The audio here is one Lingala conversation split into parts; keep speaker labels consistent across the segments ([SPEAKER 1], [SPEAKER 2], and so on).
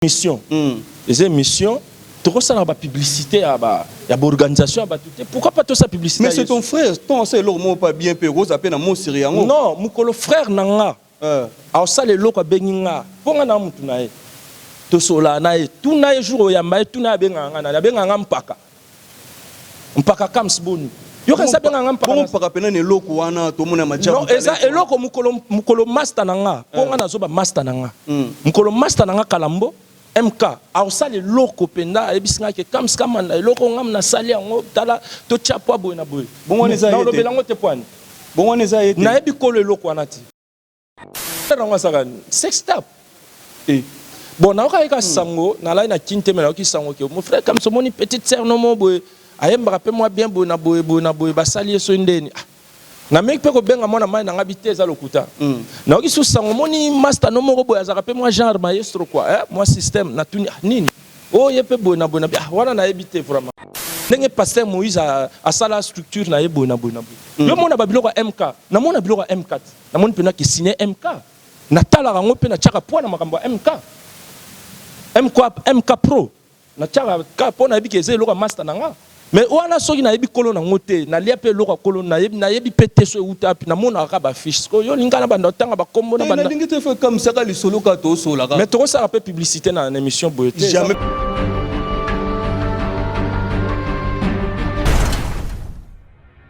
[SPEAKER 1] emission eza emission tokosala ba publicite ya ba ya ba organisation ya batu te pourquoi pas tosala publicite mais c'est ton frère ton
[SPEAKER 2] asala eloko moko pa bien pe okoza pe na mosiri yango non mukolo frère
[SPEAKER 1] na nga euh. aosala eloko abengi nga mpo nga na mutu na ye tosolaa na ye tuna ye jour oyamba ye tuna ye abengaka nga nani abengaka nga mpaka Mpaka kams boni yokanisi abenga nga mpaka bongo na mpaka pena na eloko
[SPEAKER 2] wana tomona ya majabu non eza talent eloko mokolo
[SPEAKER 1] mokolo masta na nga po nga nazo ba masta na nga Mm. mokolo masta na nga kalambo MK akosala eloko mpenza ayebisi nga ke kams kamanda eloko oyo ngam nasali yango tala totia poa boye na boye Bongo wana eza ye te. nakolobela yango
[SPEAKER 2] te poani
[SPEAKER 1] bongo wana eza ye
[SPEAKER 2] te nayebi kolo eloko wana te
[SPEAKER 1] yango asaka sex tap e bon nayokaki ka hmm. sango nalai na kin te me nayoki sango ke mon frère kamso omoni petite sœur no mo boye ayembaka mpe mwa bien boye na boye boye na boye basali ye soki ndeni ah, nameki mpe kobenga mwana mai na ngai bite eza lokuta hmm. nayoki susu sango omoni masta no moko boye azalaka mpe mwa genre maestro kua eh, mwa système natuni ah, nini oyo oh, ye mpe boye na boye na ah, wana nayebi te vraiment ndenge pasteur moïse asala structure na ye boye na boye na boye hmm. yo mona babiloko ya mk namona biloko ya mk te Namoni pena ki signe MK. Natalaka yango pe natiaka poids na makambo ya MK. MK, MK pro. Natiaka kaka po nayebi ke eza eloko ya masta na nga. Mais wana soki nayebi kolo na yango te, nalia pe eloko ya kolo, nayebi, nayebi pe te so ewuta wapi, namonaka kaka ba affiches. Sikoyo yo olingi nga nabanda kotanga ba kombo, Te, nabanda. nalingi te, faut ekamwisa kaka
[SPEAKER 2] lisolo kaka tosolola kaka. Mais tokosala pe publicite
[SPEAKER 1] na, na emission boye te. Jamais.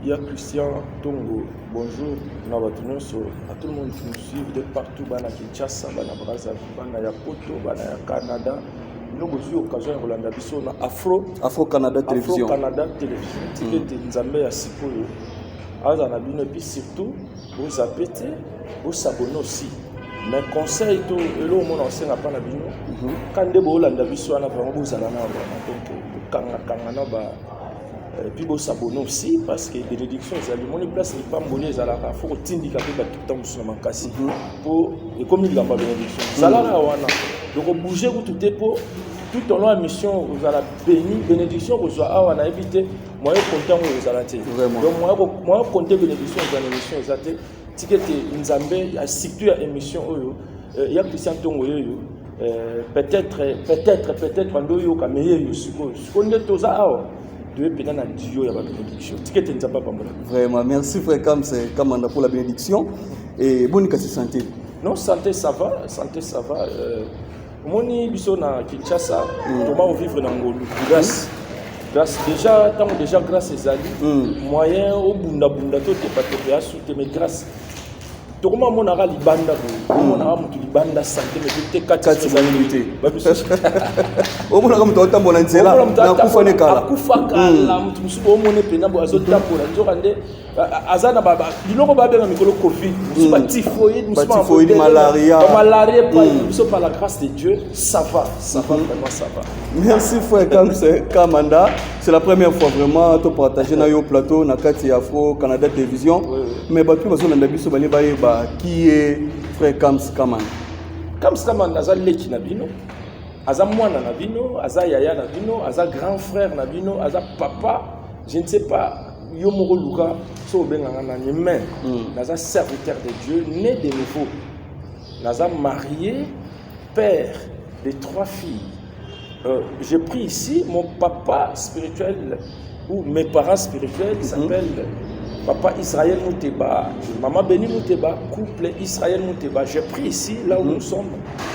[SPEAKER 2] Ya Christian
[SPEAKER 1] Tongo, bonjour na bato nyonso, à tout le monde qui nous suivent de partout, bana Kinshasa, bana Brazzaville, bana ya Poto, bana ya Canada. Bino bozwi occasion ya kolanda biso na Afro Afro Canada Afro
[SPEAKER 2] Télévision. Canada Television.
[SPEAKER 1] Tika ete Nzambe ya sikoyo azala na bino epuis surtout bozape te bosabone aussi mais conseil to eloko mona osenga mpa na bino ka nde boolanda biso wana vraimen bozala na wana donc bokangakanga na ba Euh, puis bosabone aussi parce que bénédiction ezali omoni place lipamboli ezalaka fo kotindika mpe bato ntango mosusu na makasi mpo mhm. ekomi likambo ya bénédiction mhm. zalaka wana dokobouge kutu te mpo tout au long ya mission ozala béni bénédiction okozwa awa nayebi te moyen konte yango ezala te donc moyen konte bénédiction eza na émission eza te tika ete nzambe surtout ya émission oyo euh, ya christian ntongo yeyo euh, peut-être peut-être peut-être bando oyoka me yeyo sikoyo sikoyo nde toza awa toye mpenza na dio ya babenediction tika
[SPEAKER 2] ete nzambe apambola vraiment merci frère kams kamanda pour la bénédiction et boni kasi santé non santé
[SPEAKER 1] ça va santé ça va euh, omoni biso na kinshasa mm. toma ovivre na ngolu mm. grace grace déjà ntango déjà grace ezali mm. moyen obundabunda to tepatepe ya sute mais grace tokoma monaka libanda boye omonaka motu libanda sante me te kati ezali te
[SPEAKER 2] omonaka motu aotambola nzela nakufa ne kala akufa kala motu
[SPEAKER 1] mosusu omone mpena boye azotambola nzoka nde aza na biloko babenga mikolo covid mosusu batifoide mosusu malaria epai biso par la grâce de dieu ça va ça va vraiment ça va merci frère
[SPEAKER 2] kamse kamanda c'est la première fois vraiment topartage na yo plateau na kati ya afro canada télévision mais bato mpe bazolanda biso bale bayeba qui est frère kams kamanda kams
[SPEAKER 1] kamanda aza leki na bino aza mwana na bino aza yaya na bino aza grand frère na bino aza papa je ne sais pas yo moko luka so obenga nga nani mais mm. naza serviteur de dieu né de nouveau naza marié père de trois filles euh, j'ai pris ici mon papa spirituel ou mes parents spirituels mm-hmm. s'appelle mm -hmm. papa Israël Mouteba maman Béni Mouteba couple Israël Mouteba j'ai pris ici là où mm -hmm. nous sommes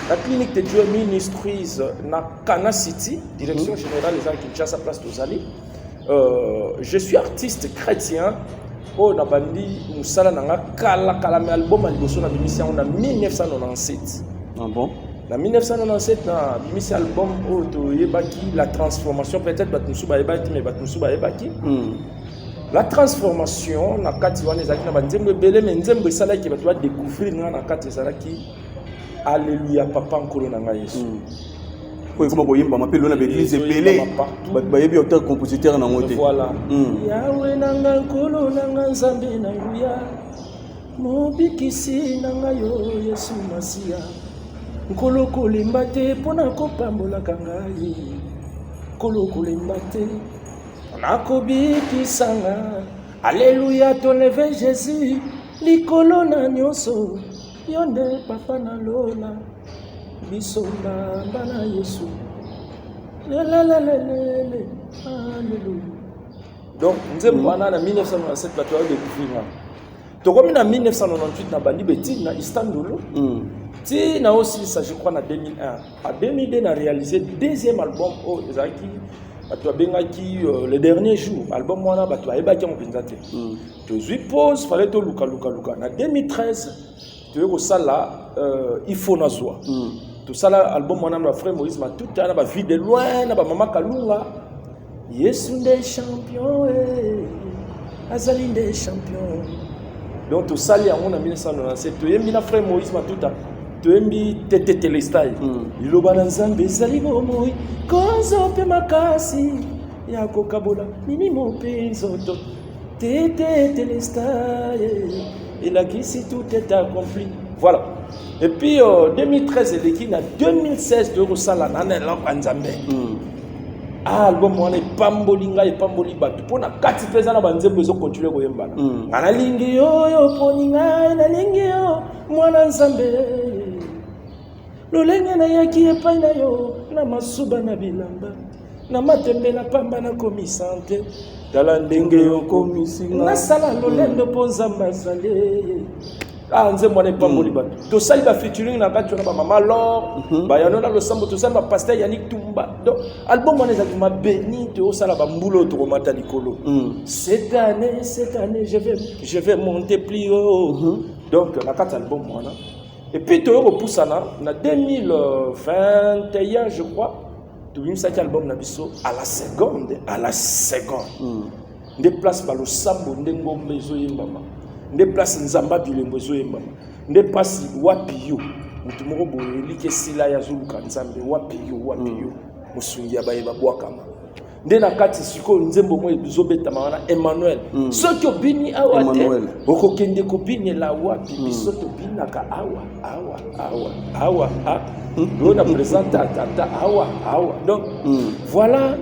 [SPEAKER 1] la clinique de Dieu ministries na Kana City direction mm -hmm. générale des Kinshasa place Tozali Euh, je suis artiste chrétien oyo nabandi mosala na nga kalakala me album ya liboso nabimisi yango na 1997 ah bon?
[SPEAKER 2] na 1997
[SPEAKER 1] nabimisi album oyo toyebaki la transformation peut-être bato mosusu bayebaki te me bato mosusu bayebaki hmm. la transformation na kati wana ezalaki na banzembo ebele me nzembo esalaki bato badécouvrir nga na kati ezalaki Alléluia papa nkolo na ngai Yesu. Mm. Oyo ekoma
[SPEAKER 2] koyembama mpe lona baeglise ebele bato bayebi auteur compositeur nango te. Voilà. Mm. Yawe
[SPEAKER 1] na nga nkolo na nga nzambe na nguya mobikisi na nga yo Yesu Masiya nkolo kolemba te mpo na kopambolaka ngai nkolo kolemba te mpo na kobikisa nga Alléluia, ton leve Jésus, likolo na nyoso Yo nde papa na lola biso mbamba na yesu lelelelelele aleluya donc nzembo wana na 1997 bato bayo découvrir wana tokomi na 1998 na bandi betine na istanbul mm. ti na osilisa je crois na 2001 a 2002 na réalisé deuxième album oyo oh, ezalaki bato babengaki euh, le dernier jour album wana bato bayebaki yango mpenza te mm. tozwi pose fale toluka luka luka na 2013 toye kosala euh, ifo nazwa mm. tosala album wana na frère moïse matuta na bavie de loin na bamama kalunga yesu nde champion eh. azali nde champion donc tosali yango na 1997 toyembi na frère moïse matuta toyembi tete telestai hmm. liloba na nzambe ezali bomoi kozo mpe makasi ya kokabola mimi mope nzoto Tete Telestar elakisi tout est accompli. Voilà. Et puis euh, 2013 eleki na 2016 toyei kosala na na eloko ya Nzambe. Mm. Ah, album wana epamboli ngai epamboli bato mpo na kati mpe eza na banzembo ezokontinue koyembana mm. nga nalingi yo oyo oponi ngai nalingi yo mwana nzambe lolenge nayaki epai na yo na masuba na bilamba na matembe na pamba nakomi sante tala ndenge okomisi nga nasala lolendo mpo nzambe azali ah nzembo wana epamboli hmm. bato tosali bafeaturing na kati wana bamama lor mhm. bayano na losambo tosali bapaster yanik tumba donc album wana ezalaki mabeni toyosala bambula oyo tokomata likolo hmm. cette année cette année je vais, je vais monter plus haut mhm. donc na kati album wana epuis toyo kopusana na 2021 je crois tobimisaki album na biso à la seconde à la seconde mm. nde place balosambo nde ngomba ezoyembama nde place nzamba bilembo ezoyembama nde place wapi yo moto moko boye eliki esila ye azoluka nzambe wapi yo wapi mm. yo mosungi ya baye babwakama nde na kati sikoyo nzembo moko ezobetama wana emmanuel mm. soki obini awa te okokende kobinela wapi mm. biso tobinaka awa awa awa awa ah, hmm, oyo na présente atata awa awa donc hmm. voilà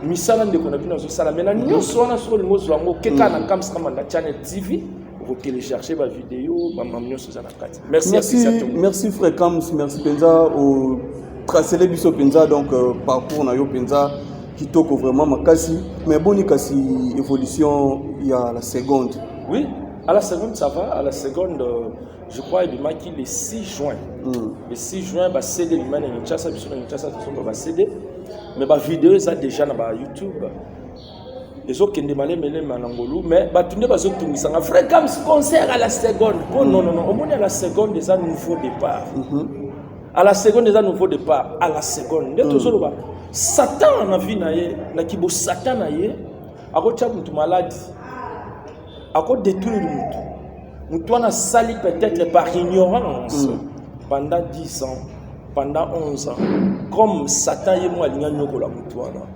[SPEAKER 1] misala ndeko na bino azosala mai na nyonso wana soki olingi ozwa yango okeka na kams kamanda channel tv okotelecharge bavideo bamam nyonso eza na kati merci
[SPEAKER 2] frère kams merci mpenza otracele biso mpenza donc euh, parcours na yo mpenza kitoko vraiment makasi mais boni kasi évolution ya la seconde oui à la
[SPEAKER 1] seconde ça va à la seconde euh, je crois ebimaki le 6 juin mm. le 6 juin basede ebima na kinshasa biso na kinshasa tosomba basede mais bavideo eza déjà na bayoutube ezokende malemelema na ngolu mais bato nde bazotungisanga vrai cams concert à la seconde po oh, mm. nonono omoni à la seconde eza nouveau départ mm -hmm. à la seconde eza nouveau départ à la seconde nde mm. tozoloba satan na vie na ye na kibosatan na ye akotya moto maladi ako détruire mutu mutu wana asali peut-être par ignorance mm. pendant 10 ans pendant 11 ans comme satan ye moko alingi anyokola mutu wana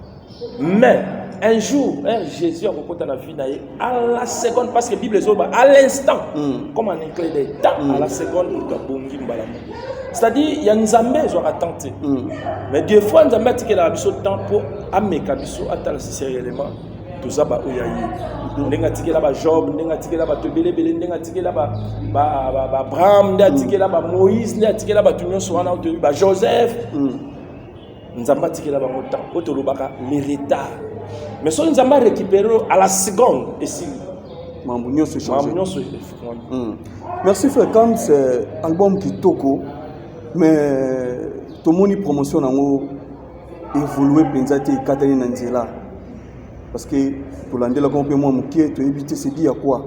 [SPEAKER 1] mais un jour eh, jésus akokota na vie na ye à la seconde parce que bible ezoba à l'instant mm. comme en un clé de temps mm. à la seconde moto abongi mbala moko c'est-à-dire ya nzambe ezwaka temps te mm. mais des fois nzambe atikelaka biso temps mpo ameka biso atala sisi ya element toza baoyo ya ye ndenge atikela bajob ndenge atikela bato ebelebele ndenge atikela baabraham nde atikela bamoïse nde atikela bato nyonso wana oyo toyebi bajoseph mm. nzambe atikela bango temps oyo tolobaka le retard mais soki nzambe arécupere à la seconde esili mambo nyonso
[SPEAKER 2] echange nyonso mm. merci frère kams album kitoko mais tomoni promotion yango evolue mpenza te ekatani na nzela parce que tolandelaka mpe mwa moke toyebi te sedi ya kwa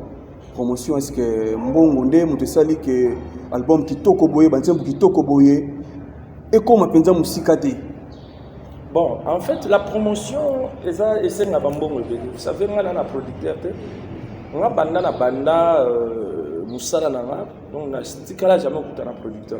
[SPEAKER 2] promotion est ce que mbongo nde moto esali ke album kitoko boye banzembo kitoko boye ekoma mpenza mosika te bon
[SPEAKER 1] en fait la promotion eza esenga bambongo ebele vous savez ngai na na producteur te nga banda na banda euh, mosala na nga donc natikala jamais okuta na producteur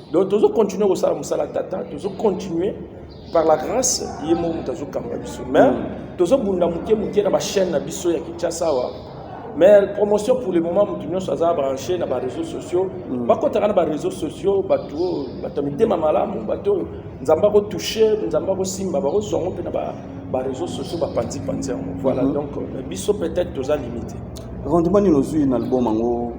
[SPEAKER 1] donc tozo continuer kosala mosala tata tozo continuer par la grâce ye moko moto azokamba biso mais mm. tozobunda moke moke na bachaîne na biso ya kinshasa awa mais promotion pour le moment moto nyonso aza branché na bareseau sociaux mm. bakotaka na bareseau sociaux bato oyo bato ya mitema malamu bato oyo nzambe akotouche nzambe akosimba bakozwa yango mpe na bareseau sociaux bapanzipanzi yango voilà mm-hmm. donc euh, biso peut-être toza limité rendement nini
[SPEAKER 2] ozwi na album yango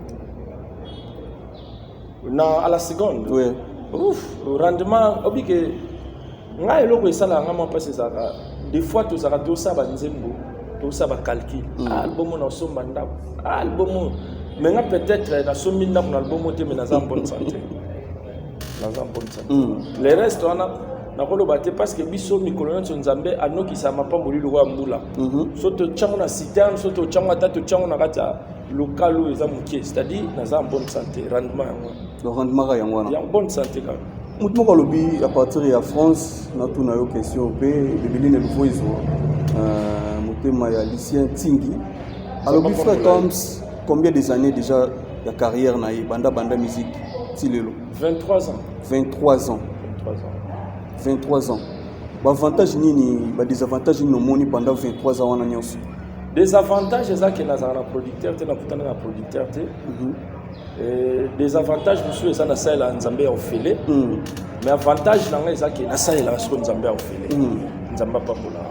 [SPEAKER 1] na à la seconde oui. Ouf, rendement obi ke ngai eloko esalaka ngai mwa mpasi ezalaka des fois tozalaka tosala banzembo tosala bacalcul mm. ah, album oyo nasomba ndako ah, album oyo mais nga peut-être eh, nasombi ndako na album oyo te mais naza bonne santé naza bonne santé mm. le reste wana nakoloba te parce que biso mikolo nyonso nzambe anokisaka mapamboli lokola mbula mhm. so totyango na citerne so totyango ata totyango na kati ya local oyo eza moke c'est-à-dire naza en bonne santé rendement yango donc rendement kaka yango
[SPEAKER 2] wana ya bonne santé kaka
[SPEAKER 1] motu moko alobi
[SPEAKER 2] à partir ya france natuna yo question mpe ebebeli na eloko ezwa euh, motema ya lucien tingi alobi fre toms combien des années déjà ya carrière na ye banda banda musique ti lelo 23
[SPEAKER 1] ans 23 ans 23
[SPEAKER 2] ans 23 ans baavantage nini badesavantage nini omoni pendant 23 ans wana nyonso des avantages
[SPEAKER 1] eza ke nazala na producteur te nakutana na producteur te mhm. eh, des avantages mosusu eza nasalela nzambe ya ofele mhm. mais avantage na ngai eza ke nasalelaka siko nzambe ya ofele mhm. nzambe apambolaka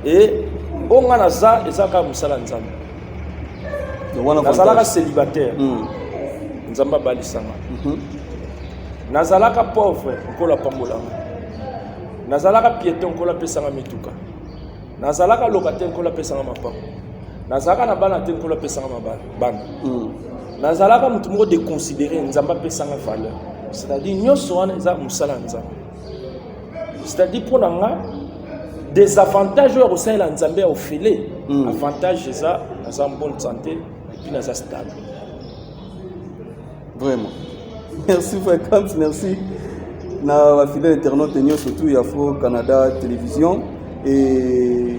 [SPEAKER 1] e oyo ngai naza eza kaka mosala ya nzambe nazalaka célibataire nzambe abalisanga nazalaka pauvre nkolo apambolanga nazalaka pieton nkolo apesanga mituka nazalaka locataire nkolo apesanga mapango nazalaka na bana te nkolo apesanga bana hmm. nazalaka moto moko deconsidere nzambe apesanga valeur c'est-à-dire nyonso wana eza mosala ya nzambe c'est-à-dire mpo na nga desavantage oyo ya kosalela nzambe ya ofele hmm. avantage eza naza bonne santé epuis naza stable
[SPEAKER 2] Vraiment. Merci Vacances, merci. Na ba fidèle internaute nyoso tout ya Fro Canada Télévision et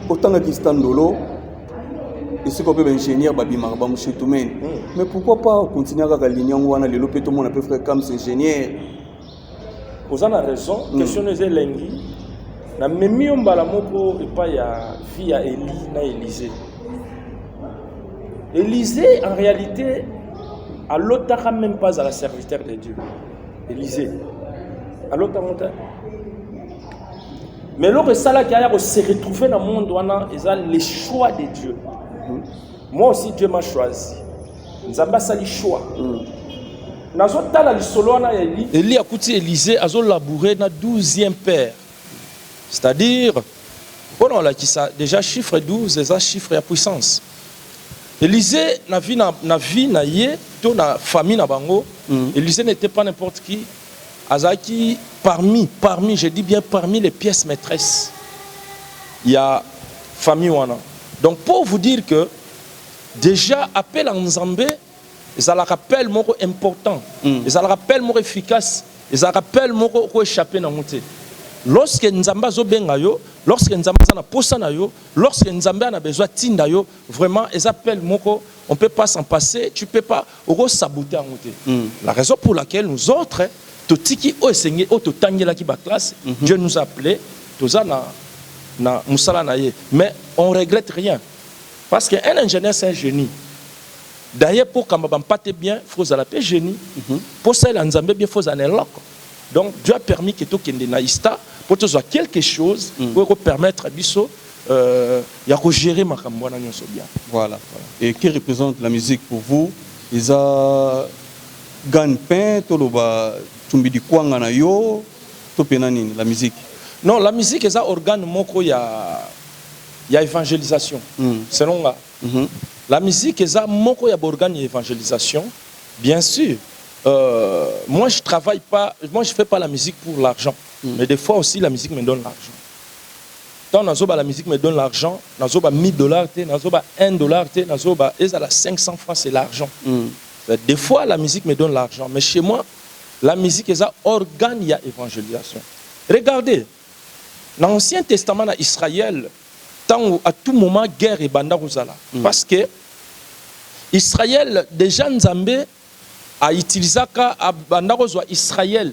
[SPEAKER 2] otanga kistandolo esika mpe baingénieur babimaka bamushetumene mais pourquoi pas continuer kaka ligne yango wana lelo mpe tomona mpe frère kams ingénieur
[SPEAKER 1] oza na raison hmm. question no eza elengi namemi yo mbala moko epai ya vie ya eli na elise elise en réalité alotaka même pas azala serviteur de dieu elise alotango te mais eloko esalaki aya koseretrouve na monde wana eza le choix de dieu hmm. Moi aussi Dieu m'a choisi. Nzambe asali choix. Mm. nazotala lisolo wana ya eli eli akuti elize azolaboure na 12e père c'est-à-dire mpo na olakisa déjà chiffre 12 eza chiffre ya puissance elize na vie na, na vie na ye to na famille na bango mm. elize n'était pas n'importe qui Azalaki parmi, parmi, je dis bien parmi les pièces maîtresses ya famille wana. Donc pour vous dire que déjà appel à Nzambe ezalaka appel moko important, mm. ezalaka appel moko efficace, ezalaka appel moko ko échapper na ngote. Lorsque Nzambe azobenga yo, lorsque Nzambe aza na posa na yo, lorsque Nzambe ana besoin tinda yo, vraiment eza appel moko, on peut pas s'en passer, tu peux pas Oko sabote yango te la raison pour laquelle nous autres totiki oyo esengeli oyo totangelaki ba classes Dieu nous a appele toza na na musala na ye mais on regrette rien parce que un ingenieur c'est un genie d'ailleurs po okamba ba mpate bien faut ozala pe genie po osalela Nzambe bien faut ozala na eloko donc Dieu a permis que tokende na ISTA po tozua quelque chose oyo eko permettre biso ya ko gerer makambo wana nionso bien. Voilà et
[SPEAKER 2] que represente la musique pour vous? Eza gagne pain toloba tshumbidikwanga na yo to pena nini la musique? Non la musique
[SPEAKER 1] eza organe moko ya ya evangelisation selon nga la musique eza moko ya ba organe ya evangelisation bien sur moi je travaille pas moi je fais pas la musique pour l'argent mais de fois aussi la musique me donne l'argent. Tant na zoba la musique me donne l'argent na zoba 1000 dollars te na zoba un dollar te na zoba ezala 500 francs c'est l'argent de fois la musique me donne l'argent mais chez moi la musique eza organe ya evangelisation regardez na ancien testament na Israël tango à tout moment guerre ebanda kozala parce que Israël dejà Nzambe à utilisaka abanda kozua Israël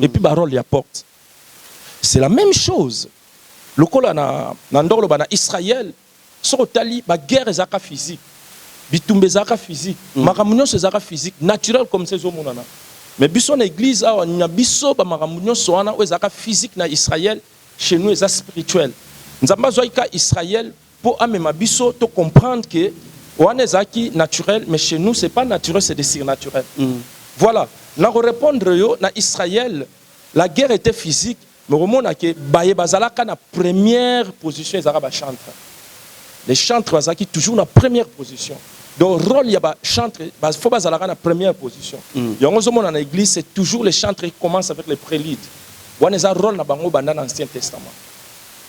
[SPEAKER 1] et puis ba role ya porte c'est la meme chose lokola na na ndoko loba na Israël soki otali ba guerre ezalaka physique bitumba ezalaka physique makambo nionso ezalaka physique naturel comme ça ezomonana mais biso na eglise awa na biso ba makambo nionso wana oyo ezalaka physique na Israël chez nous eza spirituel nzambe azuaki kaka Israël po amema biso to comprendre que wana ezalaki naturel mais chez nous c'est pas naturel c'est de surnaturel voila nako repondre yo na Israël la guerre etait physique mais okomona que baye bazalaka na première position ezalaka ba chantres les chantres bazalaki toujours na première position donc role ya ba chantres ba faut bazalaka na première position yango ozomona na eglise c'est toujours les chantres qui commencent avec les preludes wana eza role na bango banda na ancien testament.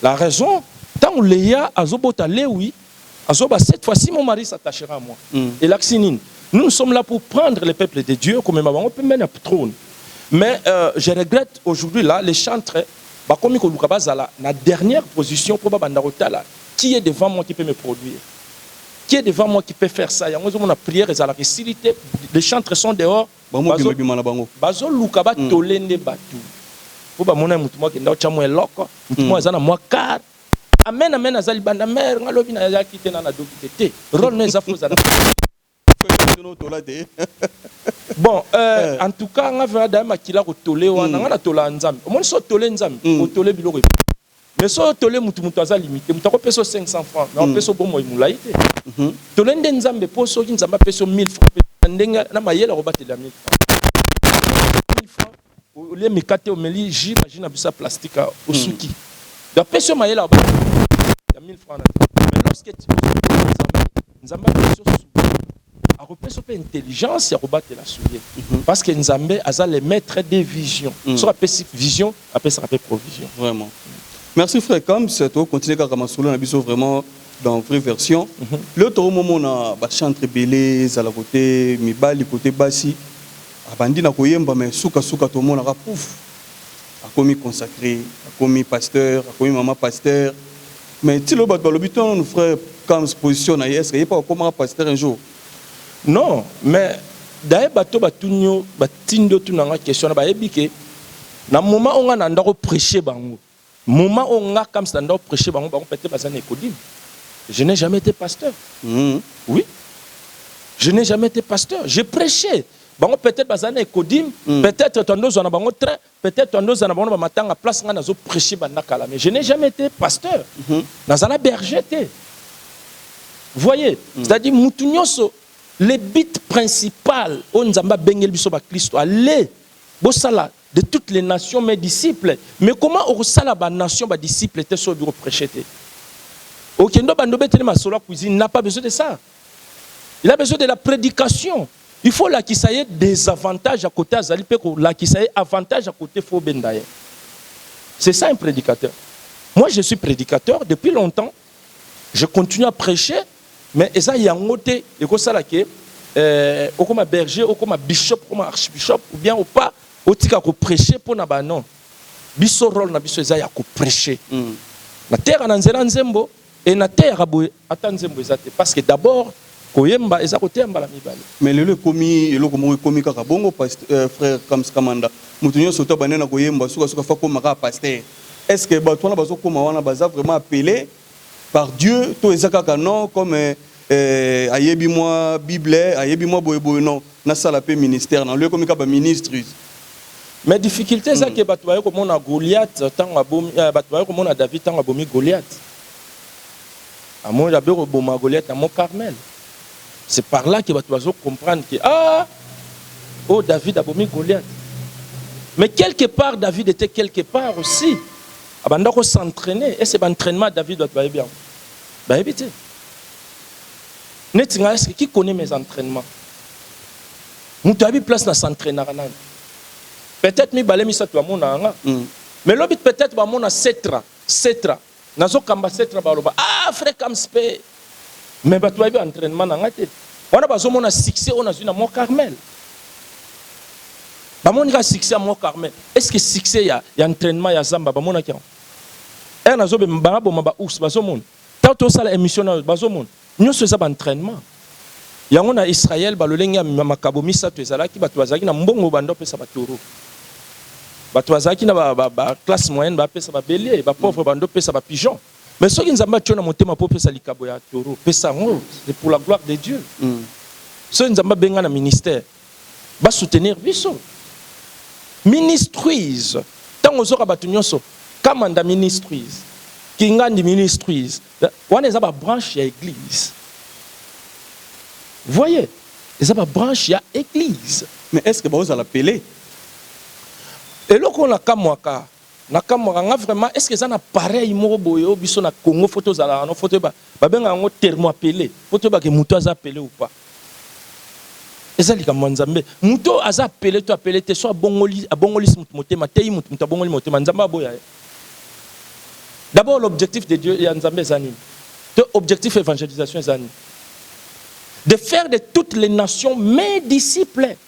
[SPEAKER 1] La raison tango Lea azo bota Lewi azo ba cette fois ci mon mari s'attachera à moi elakisi nini? Nous nous sommes là pour prendre les peuples de Dieu komema bango pembeni ya trone mais euh, je regrette aujourd'hui là les chantres bakomi koluka bazala na dernière position mpo babanda kotala qui est devant moi qui peut me produire qui est devant moi qui peut faire ça yango ezomona prière ezalaka esili te les chantres sont dehors Ba mobimba Bazo- bima na bango. bazo luka ba tole nde batu po ba mona mutu moko akenda otia mua eloko mutu moko aza na mua car amen amen aza libanda mère nga lobi na yaki te na na doki te te role no eza faut zala Bino tola te. bon euh, en tout cas nga vraiment dame makila ko tole wana nga na tola nzambe omoni so tole nzambe o tole biloko ebele. Mais soyo tole mutu mutu aza limite mutu ako pesa 500 francs mais apesa bomoi mulayi te tole nde nzambe po soki nzambe apesa 1000 francs pe ndenge na mayele ako batela 1000 francs olie mikate omeli jus ba jus na biso ya plastique awa osuki donc apesa yo mayele ya 1000 francs na te mais lorsque nzambe apesi yo soulier akopesa mpe intelligence ya kobatela soulier mhm. parce que nzambe aza le maître de vision mhm. soki apesi vision apesaka mpe provision vraiment
[SPEAKER 2] merci frère kams tokocontinue kaka masolo na biso vraiment dans vraie version mhm. leo tokomomona bachantre ebele ezala kote mibali kote basi abandi na koyemba mai sukasuka tomonaka pouf akomi consacré akomi pasteur akomi mama pasteur Mais ti lelo batu balobi to nanu frère Kam's position na ye est ce que ye pe akomaka pasteur un jour? Non
[SPEAKER 1] mais d'ailleurs batu oyo batuni yo batindi yo otuna nga question wana bayebi ke na moment oyo nga nanda ko precher bango moment oyo nga Kam's nanda ko precher bango bango pete baza na Ecodim je n'ai jamais ete pasteur oui je n'ai jamais ete pasteur je prechais bango peut-etre baza na Ecodim peut-etre tanda ozua na bango train Peut etre andoza na bango na ba matanga place ngai nazo precher banda kala mais je n'ai jamais ete pasteur nazala berger te voyez c'est à dire mutu nionso le but principal oyo nzambe abengeli biso ba klisto aller bosala de toutes les nations mes disciples mais comment okosala ba nations ba disciples te soki oyebi ko precher te okende obanda obeteli masolo ya cuisine n'a pas besoin de ça. Il a besoin de la predication. Il faut lakisa ye des avantages à côté azali pe ko lakisa ye avantage à côté faut benda ye. C'est ça un prédicateur. Moi je suis prédicateur depuis longtemps. Je continue à prêcher mais eza yango te ekosala ke euh, okoma berger, okoma bishop, okoma archbishop ou bien ou pas otika ko prêcher pona ba non. Biso rôle na biso eza ya ko prêcher. Mm. Na terre na nzela nzembo Et na teyaka boye ata nzembo eza te parce que d'abord koyemba eza koteya mbala mibale. Mais lelo ekomi
[SPEAKER 2] eloko moko ekomi kaka bongo past euh, frère Kams Kamanda mutu nyonso to abandi na koyemba suka suka fa koma kaka pasteur est ce que batu wana bazo koma wana baza vraiment appelé par Dieu to eza kaka non comme euh, Eh ayebi mwa bible ayebi mwa boye boye non nasala pe ministère na loye komi ka ba ministries. Mais
[SPEAKER 1] difficulte eza que batu baye komona Goliath tango abomi batu baye komona David tango abomi Goliath amoni abe koboma Goliath na mont Carmel c'est par là que batu bazo comprendre que ah oyo David abomi Goliath mais quelque part David était quelque part aussi abanda ko s'entraîner et c'est ba entraînement David batu bayebi yango bayebi te neti nga est ce qui connait mes entraînements mutu ayebi place na s'entraînaka nani peut-être mibale misato bamonaka nga mm. mais lobi peut-être bamona setra setra nazokamba setra baloba ah frère kamspe mais bato bayebi entraînement na nga te wana bazomona succès oyo nazwi na mont carmel bamoni kaka succès ya mont carmel est ce que succès ya, ya entraînement ya zamba bamonaki yango ere nazobema bangaboma baours bazomona Tango to sala emission nayo bazo mona nioso eza ba entrainement yango na Israël ba lolenge ya makabo misato ezalaki batu bazalaki na mbongo banda opesa ba toro batu bazalaki na ba classe moyenne ba pesa ba belier ba pauvre banda opesa ba pigeon mais soki nzambe atio na motema po opesa likabo ya toro pesa yango c'est pour la gloire de Dieu soki nzambe abenga na ministère ba soutenir biso ministries tango ozoka batu nionso kamanda ministries kingandi ministries wana eza ba branche ya eglise voye eza ba branche ya eglise mais est ce que baozala
[SPEAKER 2] pele
[SPEAKER 1] eloko na kamwaka Na kamwaka nga vraiment est ce que eza na pareil moko boye oyo biso na Congo faut tozalaka no faut toyeba ba benga yango thermoapele faut toyeba ke mutu aza apele ou pas eza likambo ya Nzambe mutu oyo aza apele to apele te soit abongoli abongolisi mutu motema ateyi mutu mutu abongoli motema Nzambe aboya ye d'abord l'objectif de Dieu ya Nzambe eza nini to objectif evangelisation eza nini de faire de toutes les nations mes disciples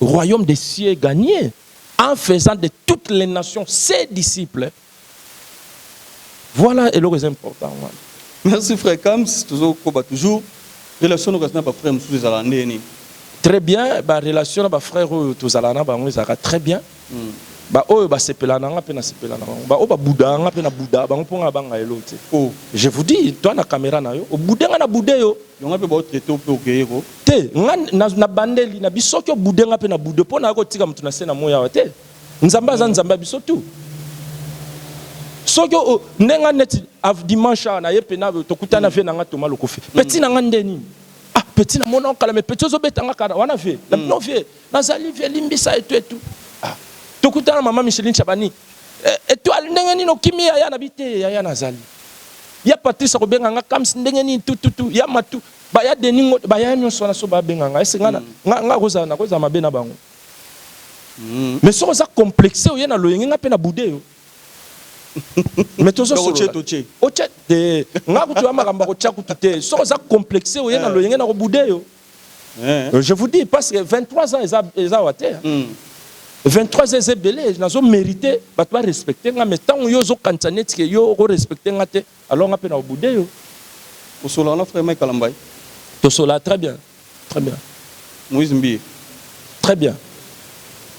[SPEAKER 1] Royaume des cieux gagne en faisant de toutes les nations ses disciples voilà eloko eza important wana. Merci frère
[SPEAKER 2] Kams tozo koba toujours relation no kasi na ba frère mususu ezalaka ndenge nini? Très bien
[SPEAKER 1] ba relation na ba frère oyo tozalaka na bango ezalaka très bien. Ba oyo ba sepelaka na nga pe na sepelaka na bango, ba oyo ba boudaka nga pe na boudaka bango po nga na banga eloko te oh je vous dis toi na camera na yo o boude nga na boude yo, yo nga pe ba o traite yo pe
[SPEAKER 2] o gueye ko te nga
[SPEAKER 1] na bandeli na biso soki o boude nga pe na boude yo po na yo ko tika mutu na se na moyi awa te nzambe aza nzambe ya biso tout soki o nde nga neti dimanche awa na ye pena to kutani na vie na nga Thomas Lokofe petit na nga nde nini ah petit na mona yo kala mais petit ozo beta nga kara wana vie na bino vie Nazali vie limbisa etuetu ah. Tokutana mama Micheline Chabani eh, Etoile ndenge nini okimi yaya na bite yaya nazali ya Patrice akobenga nga kams ndenge nini tututu ya matu baya deningo baya nyonso wana so babenga nga ese nga mm. nga nga kozala na kozala mabe na bango mm. mais soki oza complexe oye na loyenge nga mpe na bude yo mais tozosolola otya
[SPEAKER 2] te
[SPEAKER 1] nga kutu ya makambo akotya kutu te soki oza complexe oye na eh. loyenge na kobude yo Euh, je vous dis parce que 23 ans eza eza wa te. 23 hmm. ans eza ebele nazo mériter bato ba respecter nga mais ntango yo ozokanisa neti ke yo oko respecter nga te alors nga mpe na obude yo. Osola
[SPEAKER 2] wana frère Mike Alambai. Tosola
[SPEAKER 1] très bien très bien. Moïse Mbiye.
[SPEAKER 2] Très bien.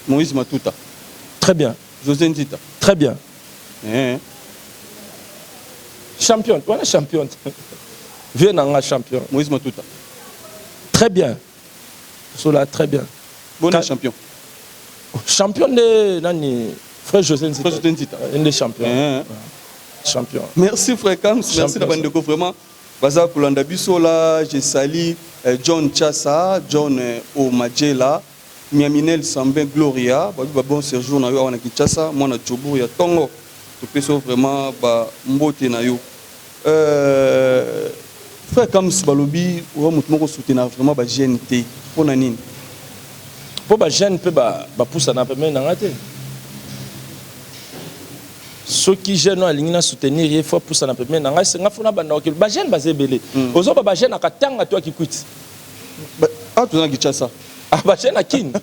[SPEAKER 1] Moïse
[SPEAKER 2] Matuta. Très bien.
[SPEAKER 1] José Nzita.
[SPEAKER 2] Très bien.
[SPEAKER 1] Eeh. Champion, wana champion. Vieux na nga champion. Moïse Matuta.
[SPEAKER 2] Très
[SPEAKER 1] bien. Sola très bien. Bonne champion. Champion de nani Frère José Nzita. Frère José Nzita. Un des champions. Eeh.
[SPEAKER 2] Champion. Merci Frère Kams, merci na bandeko vraiment. Baza kolanda biso la, je sali eh, John Chassa, John eh, Omajela. Miaminel Sambin Gloria babi ba bon serjour na yo awa na Kinshasa mwana Jobourg ya tongo topesi yo vraiment ba mbote na yo euh Frère Kams balobi oza mutu moko soutenaka vraiment ba jeunes te pona nini?
[SPEAKER 1] Po ba jeunes pe ba ba pusana pembeni na nga te soki jeune oyo alingi na soutenir ye faut apusana pembeni na ngai se nga fo nabanda kokende ba jeune baza ebele ozoba ba jeune akatanga to ya kikwit
[SPEAKER 2] awa toza na kinshasa ah, batie na kin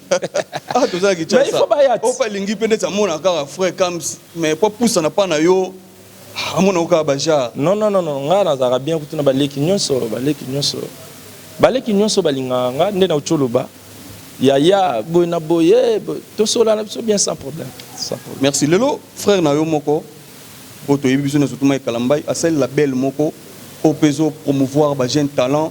[SPEAKER 1] awa toza
[SPEAKER 2] na kinshasa ope
[SPEAKER 1] alingi mpe ndeti amona
[SPEAKER 2] kaka frai cams mais mpo apusana mpa na yo amona ko kaka bajar non non non ngai
[SPEAKER 1] nazalaka bien kutu na baleki nyonso baleki nyonso baleki nyonso balingaka ngai nde nauti oloba yaya boye na boye tosolana biso bien sans problème merci lelo
[SPEAKER 2] frère na yo moko oyo toyebi biso nyonso tuma ekalambai asali label moko oyo mpe ezo promouvoir bajeune talent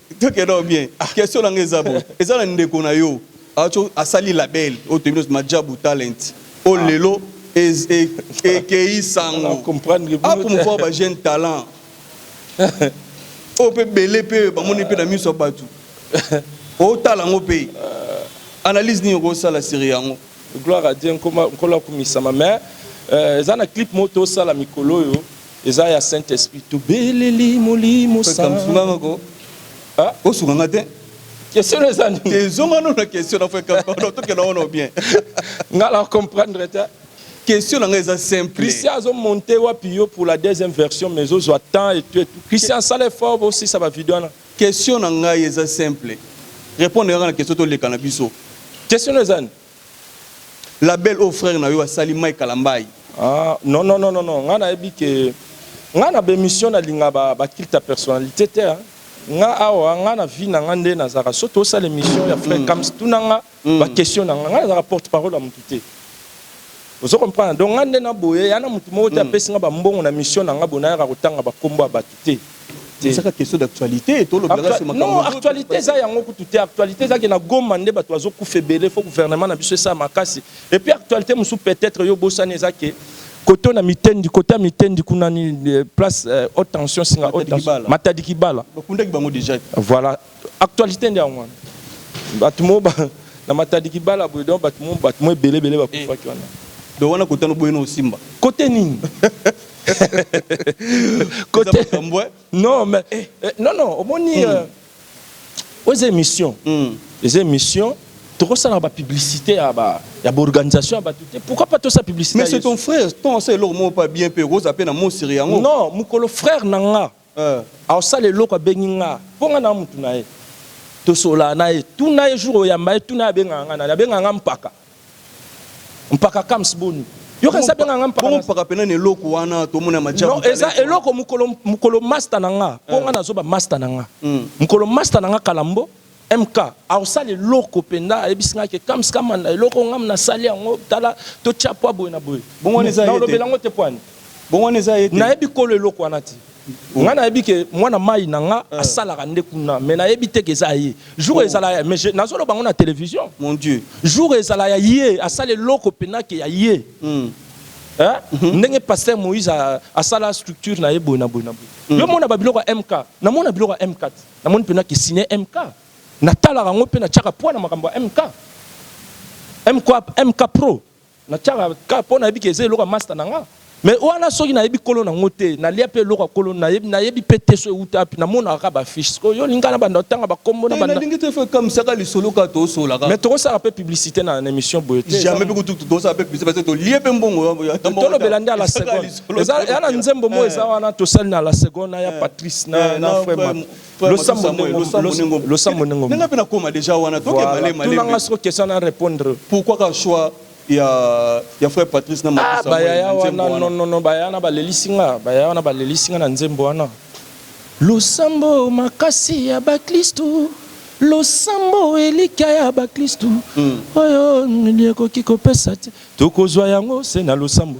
[SPEAKER 2] Tokenda o bien. Question na nga eza boye, eza na ndeko na yo atsho asali label oyo toyebi nionso Majabu Talent oyo lelo ez e ekeyi sango a promouvoir
[SPEAKER 1] ba jeunes
[SPEAKER 2] talents oyo pe ebele pe bamoni pe na miso ya batu otala yango pe analyse nini oko sala sur yango? Gloire à Dieu,
[SPEAKER 1] Nkolo akumisama mais eza na clip moko to sala mikolo oyo Eza ya Saint Esprit to beleli molimo sa. Musunga nga ko.
[SPEAKER 2] Ah, o sunga nga te. Question eza
[SPEAKER 1] nini? Te zonga no na question
[SPEAKER 2] na feka ko to kela ono bien. Nga la
[SPEAKER 1] comprendre te. Question na nga eza
[SPEAKER 2] simple. Christian azo monter
[SPEAKER 1] wapi yo pour la deuxième version mais ozo attend et tout et tout. Christian sala effort bo si ça va video na. Question na nga eza
[SPEAKER 2] simple. Répondre nga na question to leka na biso. Question eza nini? Label oyo frère na yo asali Mike Kalambay. Ah non non
[SPEAKER 1] non non nga nayebi ke nga na bemission nalinga ba ba culte ya personnalité te hein. nga awa nga na vie na nga nde nazalaka so tosala emission ya frère Kams tuna nga ba question na nga nga nazalaka porte parole ya mutu te ozo comprendre donc nga nde na boye ya na mutu moko te apesi nga ba mbongo na mission na nga boye nayaka kotanga ba kombo ya batu te te saka question
[SPEAKER 2] d'actualité to lobi la suma non actualité eza
[SPEAKER 1] yango kutu te actualité eza ke na goma nde bato bazo kufa ebele faut gouvernement na biso esa makasi et puis actualité musu peut-être yo bosani eza ke koto na mitendi kota mitendi kuna ni euh, place euh, haute tension singa haute tension matadi kibala bakundaki bango déjà
[SPEAKER 2] voilà
[SPEAKER 1] Actualite nde yango wana. Bato mo ba na matadi kibala boye donc bato mo bato mo ebele ebele bakufaki wana. Donc wana kote wana oboyi
[SPEAKER 2] na osimba. Kote nini?
[SPEAKER 1] Kote Eza makambo eh. Non mais eh, non non omoni mm. euh, oyo eza émission. Mm. Eza émission tokosalaka ba publicité ya ba ya ba organisation ya bato te pourquoi pas tosala publicité mais c'est ton frère
[SPEAKER 2] ton asa eloko moko pa bien mpe okozala mpe na mosiri yango non mokolo frère
[SPEAKER 1] na nga Euh aosala eloko abengi nga po nga naza mutu naye tosololaka naye tuna ye jour oyamba ye tuna ye abengaka nga nani abengaka nga mpaka mpaka kams boni yoka esi abengaka nga mpaka bongo mpaka pena na eloko
[SPEAKER 2] wana tomona majabu non eza eloko mukolo
[SPEAKER 1] mukolo masta na nga po nga nazoba masta na nga mukolo masta na nga kalambo MK, aosala eloko penda ayebisi nga ke kams kamanda eloko ngam nasali yango tala totia poa boye na boye mais naolobela yango
[SPEAKER 2] te
[SPEAKER 1] poani
[SPEAKER 2] nayebi kolo eloko wana
[SPEAKER 1] te nga nayebi ke muana mayi na nga asalaka nde kuna mais nayebi te ke eza ya ye jour ezala ya mais nazoloba yango na television jour
[SPEAKER 2] ezala ya
[SPEAKER 1] ye asala eloko penda ke ya ye hein ndenge pasteur moise asala structure na ye boye na boye na boye yo mona ba biloko ya MK namona biloko ya MK te. Namoni pena ki signe MK. Natalaka yango pe natiaka poids na makambo ya MK. MK, MK pro. Natiaka kaka po nayebi ke eza eloko ya masta na nga. Mais wana soki nayebi kolo na yango te, nalia pe eloko ya kolo, nayebi, nayebi pe te so ewuta wapi. Namonaka kaka ba affiches. Sikoyo yo olingi nga nabanda kotanga ba kombo, Te, nabanda. nalingi te faut ekamwisa kaka
[SPEAKER 2] lisolo kaka tosolola kaka. Mais tokosala pe publicite
[SPEAKER 1] na, na emission boye te. Eza. Jamais pe kutu tokosala
[SPEAKER 2] pe publicite parce que tolie pe mbongo wana, ata mbongo te. Tolobela nde à la
[SPEAKER 1] seconde. ya na nzembo mo eza wana tosali na la seconde ya patrice na na frère losambo ndenge losambo ndenge ndenge pe nakoma déjà
[SPEAKER 2] wana toke male male tunanga soko question na
[SPEAKER 1] répondre pourquoi ka choix
[SPEAKER 2] ya ya frère patrice na makusa bayaya wana
[SPEAKER 1] non non non bayaya na balelisi nga bayaya wana balelisi nga na nzembo wana losambo makasi ya baklistu losambo elikya ya baklistu oyo ekoki kopesa te tokozwa yango se na losambo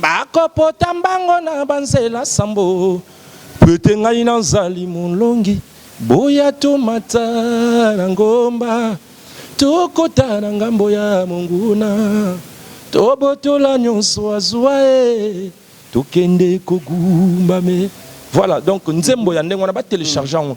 [SPEAKER 1] Bakopota mbango na banzela sambo, pwete ngai nazali molongi, boya tomata na ngomba, tokotana ngambo ya monguna, tobotola nionso azua ee, tokende kogumbame. Voilà donc nzembo ya ndenge wana ba telecharger yango.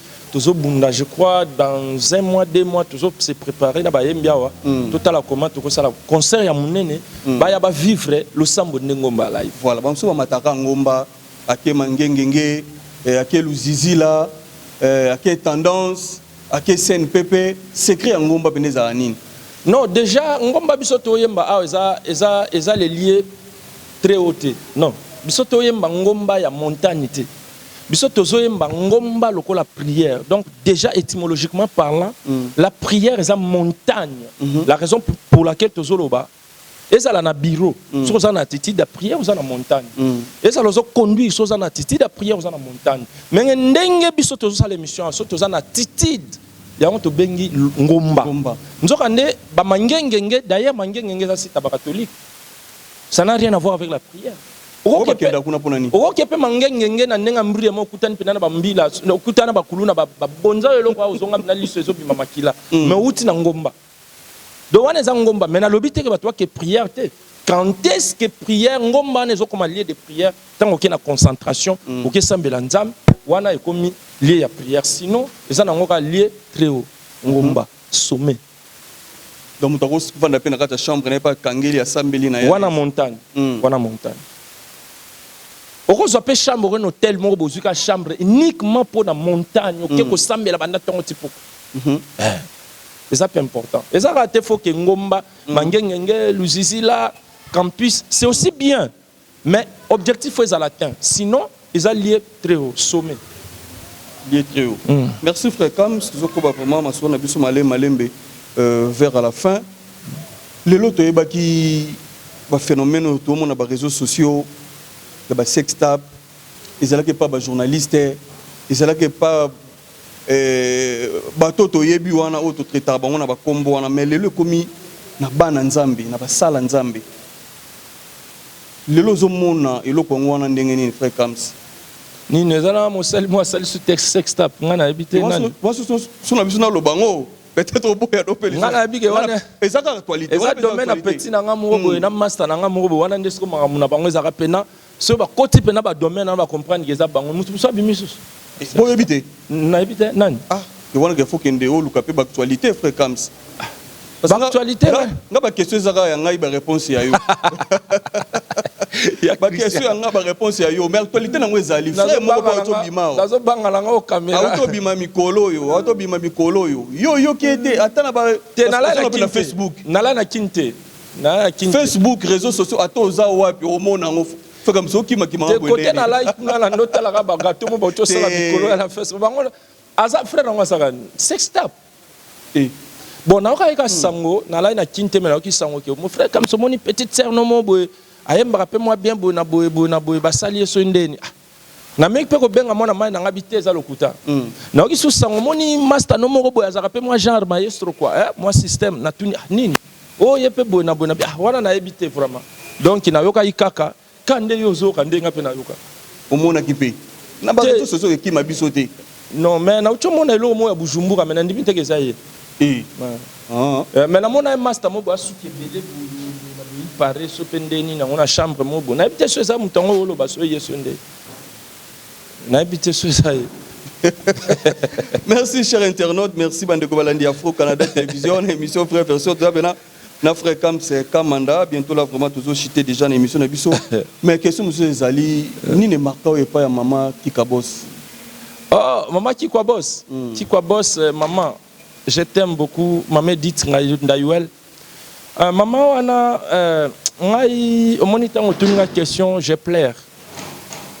[SPEAKER 1] tozo bunda je crois dans un mois deux mois tozo se préparer na bayembi awa mm. totala comment tokosala concert ya monene mm. baya ba vivre losambo nde ngomba live voilà bamosusu bamataka
[SPEAKER 2] ngomba ake mangengenge eh, ake luzizila eh, ake tendance ake scène pepe secret ya ngomba mpende ezala nini non déjà
[SPEAKER 1] ngomba biso toyemba awa eza, eza, eza lelie très haut te non biso toyemba ngomba ya montagne te Biso tozo yemba ngomba lokola prière donc dejà etymologiquement parlant la prière eza montagne la raison pour laquelle tozo loba ezala na bureau soki oza na attitude ya prière oza na montagne ezala ozo conduire soki oza na attitude ya prière oza na montagne menge ndenge biso tozo sala emission awa soki toza na attitude yango tobengi ngomba nzoka nde ba mangengenge d'ailleurs mangengenge eza site ya ba catholique ça n'a rien à voir avec la prière Okoke pe mangengenge na ndenge ambria ma okutani pena na ba mbila okuta na ba kuluna ba bonza yo eloko ozonga pena liso ezo bima makila mais owuti na ngomba donc wana eza ngomba mais na lobi te ke batu ba ke prière te quand est ce que prière ngomba wana ezo koma lieu de prière tango oke na concentration oke sambela nzambe wana ekomi lieu ya prière sinon eza nango kaka lieu très haut ngomba sommet
[SPEAKER 2] Donc moto ako vanda mpe na kati ya chambre na ye mpe akangeli asambeli na ye. Wana montagne,
[SPEAKER 1] wana montagne. Oko zwa mpe chambre oke na hotel moko bozwi kaka chambre uniquement mpo na montagne oke ko sambela banda tongo ti pokwa. Eh eza mpe important. Eza kaka te faut que ngomba, mangengenge, luzizila, campus c'est aussi bien. Mais objectif faut ezala atteint sinon eza lieu très haut sommet lieu
[SPEAKER 2] très haut mm. merci frère Kams tozokoba vraiment masolo na biso malembe malembe euh, vers à la fin lelo toyebaki baphénomène oyo toomona baréseaux sociaux ya basextape ezalaki epa bajournaliste ezalaki epa Eh, bato oyo toyebi wana, oyo totretaka bango na bakombo wana, me lelo ekomi na bana Nzambe, na basala Nzambe. Lelo ozomona eloko yango wana ndenge nini, frère Kams? nini eza
[SPEAKER 1] na mosali mwa asali su tex sextap ngai nayebi te nani so na biso
[SPEAKER 2] naloba yango peut-être oboya do mpe ngai nayebi ke wana
[SPEAKER 1] eza kaka actualité eza
[SPEAKER 2] domaine ya petit
[SPEAKER 1] na ngai moko boye hmm. na master na ngai moko boye wana nde siko makambo na bango ezalaka mpena Soki ba koti pena ba domaine wana ba comprendre que eza bango mutu mususu abimi lisusu. Bo yebi te?
[SPEAKER 2] Na yebi te nani?
[SPEAKER 1] Ah yo wana faut
[SPEAKER 2] kende oluka pe ba actualite frère Kams. Ba
[SPEAKER 1] actualite nga, nga ba
[SPEAKER 2] question eza kaka ya ngai ba reponse ya yo. ba question ya nga ba reponse ya yo mais actualite nango ezali frère moko pe auto bima awa. Nazo banga nanga o
[SPEAKER 1] camera. Auto bima mikolo
[SPEAKER 2] oyo, auto bima mikolo oyo. Yo oyoki ye te ata na ba te na lala na Facebook.
[SPEAKER 1] Na lala na kin te. Facebook reseaux sociaux
[SPEAKER 2] ata oza wapi omona yango feka mosu okimakima te kote na like
[SPEAKER 1] kuna na ndo talaka ba gato mo bauti osala mikolo ya na facebook bango aza frère yango asaka sex tap e bon nayoka yeka sango na lai na kin te me nayoki sango ke mo frère kamso omoni petite sœur no mo boye ayembaka mpe mwa bien boye na boye boye na boye basali ye soki ndeni ah Na meki pe ko benga mwana mayi na ngabi te eza lokuta na yoki su sango omoni masta no moko boye azalaka pe mwa genre maestro quoi eh mwa système na tuni ah nini oh ye pe boye na boye na bi ah wana na yebi te vraiment donc na yokaki kaka ka nde yo ozo yoka nde nga pe na yoka. Omonaki pe
[SPEAKER 2] na batu tous ozo kima biso te. Non mais na uti
[SPEAKER 1] omona eloko moko ya Bujumbura mais na ndimi teke eza ye. Eh. Ah. Eh, mais namona ye master moko asuki ebele boye na boyi pare so pe nde nini yango na chambre moko boye. Nayebi te so eza moto yango oloba so ye so nde. Nayebi te so eza ye.
[SPEAKER 2] merci cher internaute merci bandeko balandi afro canada télévision na émission frère version toza pena na frère Kamse Kamanda bientôt là vraiment tozo chiter déjà na émission na biso mais question mosusu ezali nini emarka oyo epai ya mama Kika Boss Oh,
[SPEAKER 1] maman Kikwa Boss. Mm. Kikwa Boss, euh, maman, je t'aime beaucoup. Maman Edith Ngayu- Ndayuel. Euh, maman wana, euh, ngai, omoni tango tuni nga question, je pleure.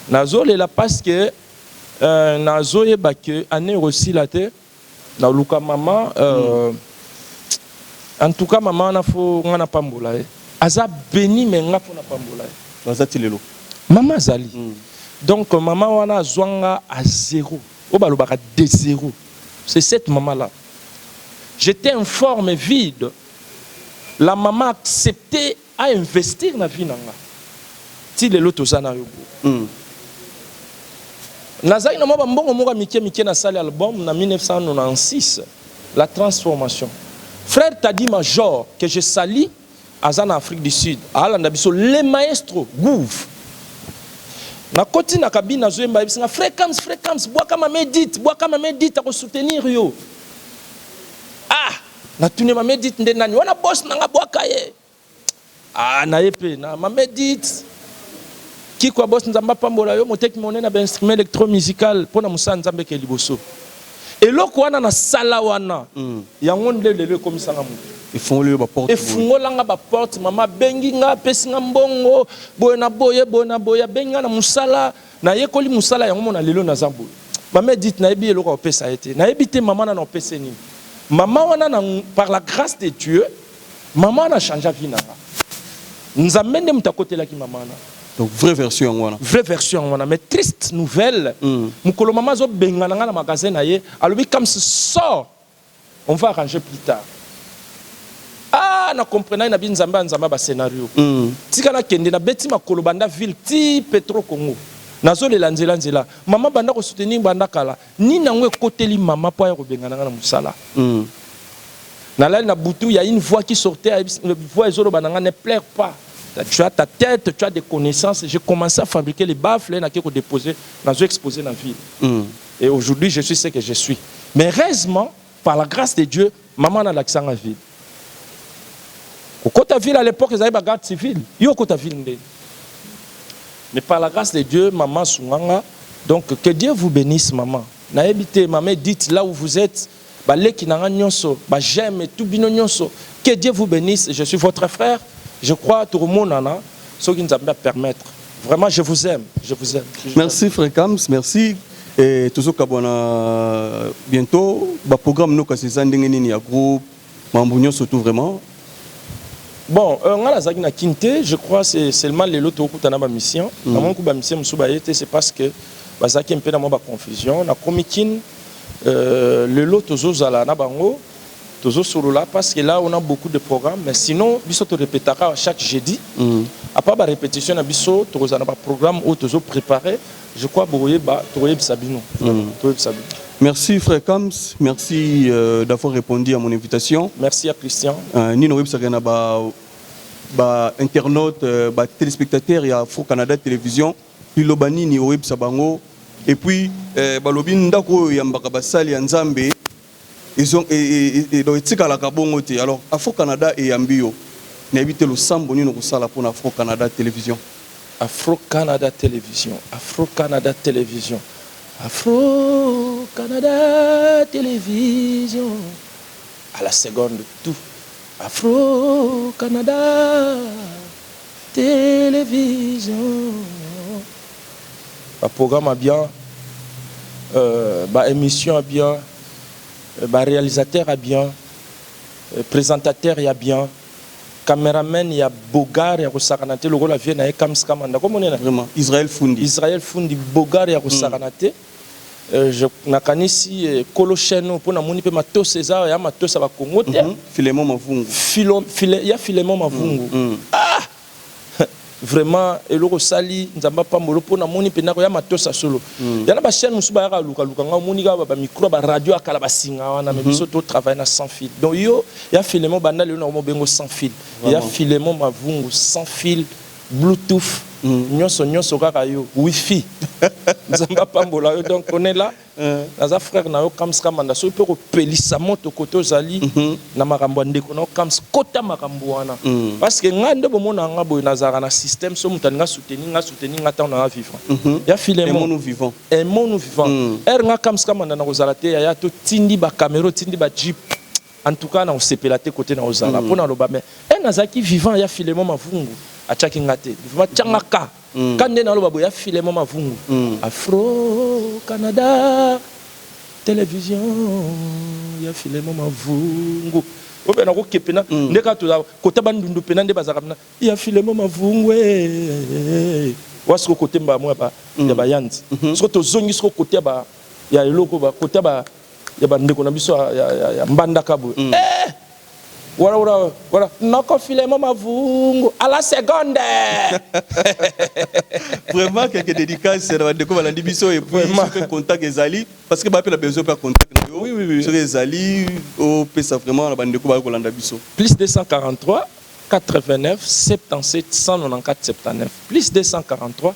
[SPEAKER 1] Nazolela parce que euh, nazoyeba que année osila te. Na luka maman euh en tout cas maman wana faut nga na pambola ye aza beni mais nga faut na pambola ye. Aza ti lelo? Maman azali donc maman wana azua nga à zero oyo ba lobaka de zero c'est cette maman là j'etais informe vide la maman accepter A investir na vie na nga ti lelo toza nayo boye hum. Nazalaki na mwa ba mbongo moko ya mike mike na sali album na 1996 la transformation frère Taddy major que je salie aza na Afrique du Sud alanda biso le maestro gouv na koti na cabine nazo yemba ayebisi nga frekams frekams bwaka mama Edith bwaka mama Edith ako soutenir yo ah Natune mame Edith nde nani wana boss nanga bwaka ye ah na ye pe na mame Edith Kikwa boss nzambe apambola yo moteki monene ba instrument electro musical pona mosala nzambe ke liboso eloko wana na sala wana mm. yango nde lelo ekomisanga moto
[SPEAKER 2] efungolanga baporte
[SPEAKER 1] mama abengi nga apesi nga mbongo boye na boye boye na boye abengi nga na mosala Na yekoli musala yango mona lelo naza boye. Mama Edith na yebi eloko ya kopesa ye te. Na yebi te mama wana na kopesa ye nini. Mama wana na par la grace de Dieu mama wana a changea vie na nga. Nzambe nde moto akotelaki mama wana. Donc vraie version yango
[SPEAKER 2] wana. Vraie version yango wana
[SPEAKER 1] mais triste nouvelle mokolo mama azo bengana nga na magasin na ye alobi Kams sors On va arranger plus tard aah na comprenaki na bi nzambe ya nzamba ba scenario tika na kende na beti makolo banda ville ti petro congo nazo lela nzela nzela maman banda ko soutenir banda kala nini yango ekoteli maman po aya kobengana nga na musala na lali na butu ya une voix qui sortait ayebisi voix ezo loba na nga ne pleure pas tu as ta tete tu as de connaissance je commence a fabriquer les baffle na ke ko deposer nazo exposer na ville. Et aujourd'hui je suis ce que je suis mais heureusement par la grace de Dieu maman na lakisa nga ville kokota ville à l'époque ezali ba garde civile yo okota ville nde mais par la grâce de Dieu maman sunganga donc que Dieu vous bénisse maman nayebi te maman Edith là où vous êtes ba leki na nga nionso ba j'aime et tout bino nionso que Dieu vous benisse je suis votre frère je crois toko monana soki Nzambe a permettre vraiment je vous aime je vous aime merci
[SPEAKER 2] frère Kams merci et tozo kabwana bientôt ba programme no kasi eza ndenge nini ya groupe mambo nionso tout vraiment
[SPEAKER 1] bon euh, nga nazalaki na kin te je crois c'est seulement lelo tokutana ba mission mm. namoni ku ba mission mosusu baye te c'est parce que bazalaki mpe na mwa baconfusion nakomi kin Euh, lelo tozozala na bango tozosolola parce que là on a beaucoup de programmes mais sinon biso to répétaka chaque jeudi mm. à part ba répétition na biso tokozala na ba programme oyo tozo préparer je crois bokoyeba tokoyebisa bino mm. toyebisa bino
[SPEAKER 2] Merci frère Kams, merci euh, d'avoir répondu à mon invitation. Merci à Christian.
[SPEAKER 1] Euh, Nino websaka na
[SPEAKER 2] ba ba internautes, euh, ba téléspectateurs ya Fro Canada Télévision. Liloba nini oyebisa bango et puis eh, balobi ndako oyo yambaka basali ya Nzambe ezo e, e, e, donc etikalaka bongo te. Alors Afro Canada eyambi yo, nayebi te losambo nini okosala mpo na Afro Canada Television. Afro
[SPEAKER 1] Canada Television, Afro Canada Television, Afro Canada Television. À la seconde tout. Afro Canada. Television ba programme ya bien ba emission ya bien ba realisateur ya bien presentateur ya bien cameraman ya bogar ya kosakana te lokola vieux na ye kams kamanda ko monela Israel fundi
[SPEAKER 2] Israel fundi bogar ya
[SPEAKER 1] kosakana te Je nakanisi kolo chaine oyo pona moni pe matos eza ya matos ya ba Congo te. Filemon Mavungu.
[SPEAKER 2] Filo file ya
[SPEAKER 1] Filemon Mavungu. Ah! Vraiment eloko osali Nzambe apambola yo pona moni penda ko ya matos ya solo. Ya na ba chaine mususu bayaka ko luka luka nga omoni kaka ba micro ya ba radio ya kala ba singa wana mais biso to travailler na sans fil. Donc yo ya Filemon banda lelo nako mobenga yo sans fil. Ya Filemon Mavungu sans fil. Bluetooth nionso nionso kaka yo wifi nzambe apambola yo donc on est là naza frère na yo kams kamanda soki pe okopelisa moto kote ozali na makambo ya ndeko na yo kams kota makambo wana parce que ngai nde bomonaka ngai boye nazalaka na système soki moto alingi asoutenir ngai asoutenir ngai tango naza vivant ya filemon aimons
[SPEAKER 2] nous vivant
[SPEAKER 1] heure ngai kams kamanda nakozala te yaya totindi ba camera otindi ba jeep En tout cas nako sepela te cote nao zala po naloba mais eh nazalaki vivant ya Philemon Mavungu atiaki nga te vivant tianga ka ka nde naloba boye ya Philemon Mavungu Afro Canada television ya Philemon Mavungu oyo pe nako ke pena nde kaka tozala kota Bandundu pena nde bazalaka pena ya Philemon Mavungu eh wa siko cote mbala moko ya ba ya ba Yanzi siko tozongi siko cote ya ba ya eloko ba cote ya ba ya ba ndeko na biso ya, ya, ya mbandaka boye mm. eh! Voilà, voilà, voilà. Noko Filemon Mavungu, à la seconde.
[SPEAKER 2] Vraiment, quelques dédicaces, c'est la déco, malandi biso, et puis, il fait contact des alliés, parce que, bah, la besoin de contact. Oui, oui, oui. Sur les
[SPEAKER 1] alliés,
[SPEAKER 2] au PSA, vraiment, la bande de Koba, Kolanda biso. Plus 243, 89, 77,
[SPEAKER 1] 194, 79. Plus 243,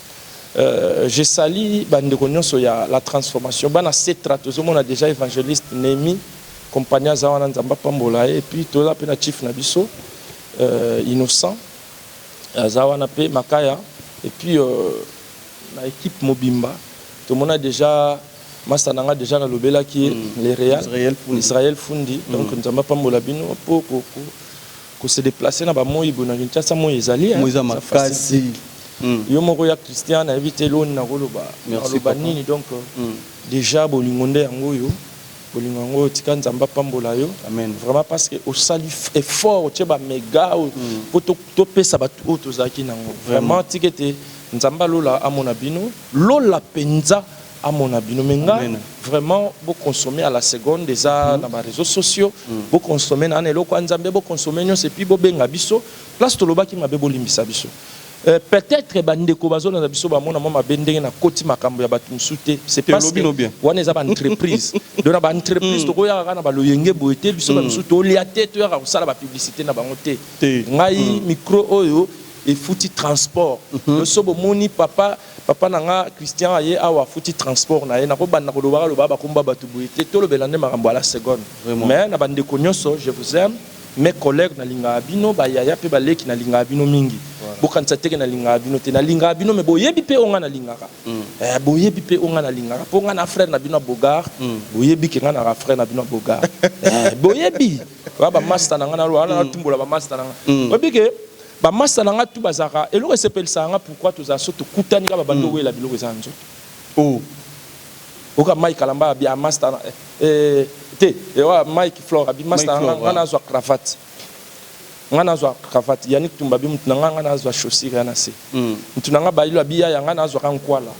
[SPEAKER 1] Euh, je salue ba ndeko nionso ya la transformation bana setra tozomona deja evangeliste Nemi compagnie aza wana nzambe apambola ye et puis toza pe na chief na biso euh, innocent aza wana pe makaya et puis euh, na équipe mobimba tomona deja masta na nga deja nalobelaki ye mm. le real israel fundi, israel fundi. Mm. donc nzambe apambola bino po Ko se deplacer na ba moyi boye na Kinshasa moyi ezali hein. Moyi eza makasi.
[SPEAKER 2] Yo
[SPEAKER 1] moko ya Christian na yebi te elongi nako loba nako loba nini donc dejà bolingo nde yango oyo bolingo yango oyo tika Nzambe apambola yo vraiment parce que
[SPEAKER 2] osali
[SPEAKER 1] effort otie ba mega oyo po to pesa batu oyo tozalaki nango vraiment tika ete Nzambe ya lola amona bino lola penza. amona bino mais nga vraiment bo consommer à la seconde eza mm -hmm. na ba réseaux sociaux mm -hmm. bo consommer na eloko ya nzambe bo consommer nyonso epuis bobenga biso place tolobaki mabe bolimbisa biso Euh, peut-être bandeko bazolanda biso bamona mwa mabe ndenge nakoti makambo ya bato mosusu te c'est parce que wana eza baentreprise donc na baentreprise hmm. tokoyaka kaka na baloyenge boye te biso bamosusu hmm. tolia te toyaka kosala bapublicité na bango te ngai hmm. micro oyo efuti transport loso bomoni papa Papa na nga Christian aye awa afuti transport na ye nako banda ko lobaka lobaka ba kombo ya batu boye te to lobela nde makambo à la seconde mais na ba ndeko nioso je vous aime mes collegues na lingaka bino ba yaya pe ba leki na lingaka bino mingi bo kanisa te ke na lingaka bino te na lingaka bino mais bo yebi pe oyo nga na lingaka eh bo yebi pe oyo nga na lingaka po nga na frère na bino ya beaugard bo yebi ke nga naka frère na bino ya beaugard eh bo yebi Ba ba masta na nga na loa na mm. tumbola ba masta na nga. Mm. Oyebi ke ba masta na nga tu bazaka eloko esepelisa nga pourquoi tozala so tokutani kaka bando mm. wela biloko eza nzo. Oh. Oka Mike Kalamba bi masta na eh, eh te ewa eh, Mike Flora bi masta na nga na zwa cravate. Nga na zwa cravate Yannick Tumba bi mutu na nga nga na zwa chaussure na se. Mutu na nga ba ilo bi ya nga na zwa kan kwala.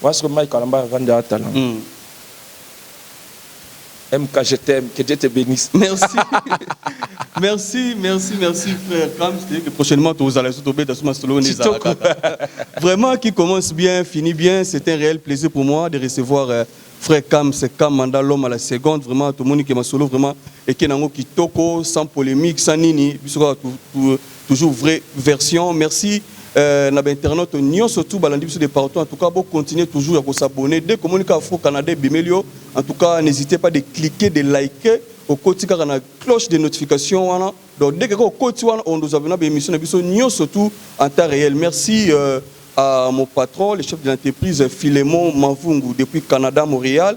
[SPEAKER 1] Wasko Mike Kalamba vanda atala. Mm. MK je t'aime que Dieu te benisse. Merci merci
[SPEAKER 2] merci merci frère Kams c'est dire que prochainement tozala lisusu tobeta sous masolo oyo nde ezala Kitoko. kaka vraiment qui commence bien finit bien c'est un réel plaisir pour moi de recevoir euh, frère Kams Kamanda l'homme à la seconde vraiment tomoni que masolo vraiment eke nango kitoko sans polémique sans nini biso kaka tu- tu- Toujours vrai version merci euh, na ba internautes nionso tout balandi biso de partout en tout cas bo continuer toujours ya ko s'abonner dès komoni ka Afro Canada ebimeli yo en tout cas n'hésitez pas de cliquer de liker okoti kaka na cloche de notification wana donc dès que okoti wana on nous abonner ba émission na biso nionso tout en temps réel merci euh, à mon patron le chef de l'entreprise Philemon Mavungu depuis Canada Montréal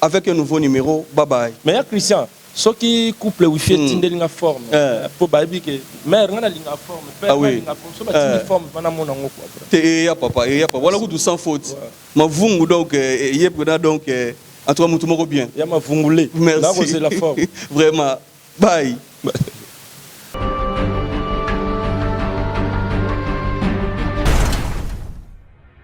[SPEAKER 2] Avec un nouveau numero bye
[SPEAKER 1] bye.
[SPEAKER 2] Mais ya Christian
[SPEAKER 1] soki couple wifi etindeli nga forme po bayebi ke mère nga nalingaka forme père nga alingaka forme soki batindi forme vraiment namona yango quoi bro. Te eya papa eya papa
[SPEAKER 2] wana kutu sans faute mavungu donc eye pena donc en tout cas mutu moko
[SPEAKER 1] bien. Ya mavungu
[SPEAKER 2] le
[SPEAKER 1] nakozela
[SPEAKER 2] forme.
[SPEAKER 1] Vraiment bye.